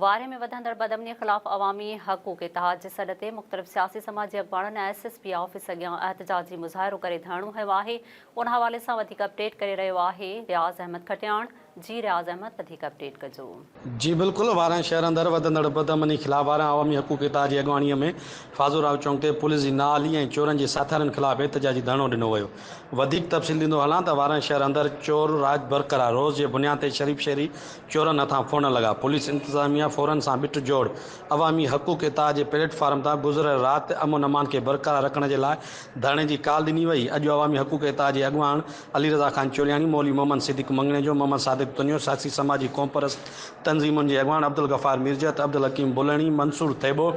وارهي ۾ وڌندڙ بدامنيء خلاف عوامي حقوق اتحاد جي سڏ تي مختلف سياسي سماجي اڳواڻن ايس ايس پي آفيس اڳيان احتجاجي مظاهرو ڪري ڌرڻو هنيو آهي ان حوالي سان وڌيڪ اپڊيٽ ڪري رهيو آهي رياض احمد کٽياڻ جي رياض احمد وڌيڪ اپڊيٽ ڪجو. جي بلڪل وارهين شهر اندر وڌندڙ بدامني خلاف وارهين عوامي حقوق اتحاد جي اڳواڻيء ۾ فاضل راهو چونڪ تي پوليس جي نااهلي ۽ چورن جي ساٿارين خلاف احتجاجي ڌرڻو ڏنو ويو وڌيڪ تفصيل ڏيندو هلان ته وارهين شهر اندر چور راڄ برقرار روز جي بنيان تي شريف شهري چورن هٿان ڦوڙڻ لڳا. پوليس انتظاميه فورن سان بٺ جوڙ عوامي حقوق اتحاد جي پليٽ فارم تان گذريل رات امن امان کي برقرار رکڻ جي لاء ڌرڻي جي ڪال ڏني وئي. اڄ عوامي حقوق اتحاد جي اڳواڻ علي رضا خان چولياڻي، مولوي محمد صديق مڱڻيجو، محمد صادق تنيو، سياسي سماجي قومپرست تنظيمن جي اڳواڻ عبدالغفار ميرجهت، عبدالحڪيم بلهڻي، منصور ٿيٻو،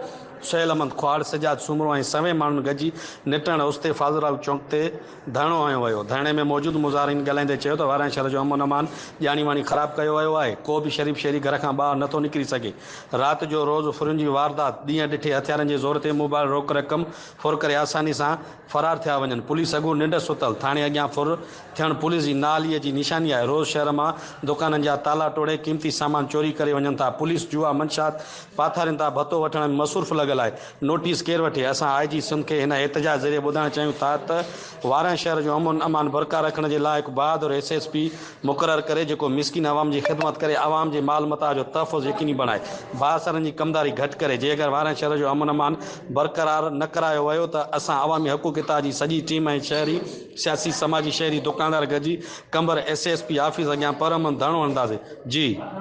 سهيل احمد کهاڙ، سجاد سومرو ۽ سوين ماڻهن گڏجي نٽهڙ اوستي فاضل راء چونڪ تي ڌرڻو هنيو ويو، ڌرڻي ۾ موجود مظاهرين ڳالهائيندي چيو ته واراني شهر جو امن امان ڄاڻي واڻي خراب ڪيو ويو آهي، ڪو به شريف شهري گهر کان ٻاهر نٿو نڪري سگهي، رات جو روز ڦرين جي واردات، ڏينهن ڏٺي هٿيارن جي زور تي موبائل روڪ رقم ڦر ڪري آساني سان فرار ٿيا وڃن، پوليس اڳو ننڊ ستل، ٿاڻي اڳيان ڦر ٿيڻ پوليس جي نااهليء جي نشاني آهي، روز شهر مان دڪانن جا تالا ٽوڙي قيمتي سامان چوري ڪري وڃن ٿا، پوليس جوا منشيات پاٿارين تان ڀتو وٺڻ ۾ مصورف لڳل آهي، نوٽيس ڪير وٺي؟ اسان آء جي سنڌ کي هن احتجاج ذريعي ٻڌائڻ چاهيون ٿا ته وارانهن شهر جو امن امان برقرار رکڻ جي لاء هڪ بهادر ايس ايس پي مقرر ڪري جيڪو مسڪين عوام جي خدمت ڪري عوام جي مال متاع جو تحفظ يقيني بڻائي بااثرن جي ڪمداري گهٽ ڪري جي اگر وارانهن شهر جو امن امان برقرار نه ڪرايو ويو ته اسان عوامي حقوق اتحاد جي سڄي ٽيم ۽ شهري سياسي سماجي شهري دڪاندار گڏجي Qambar S S P office اڳيان پرامن ڌرڻو هڻنداسين جي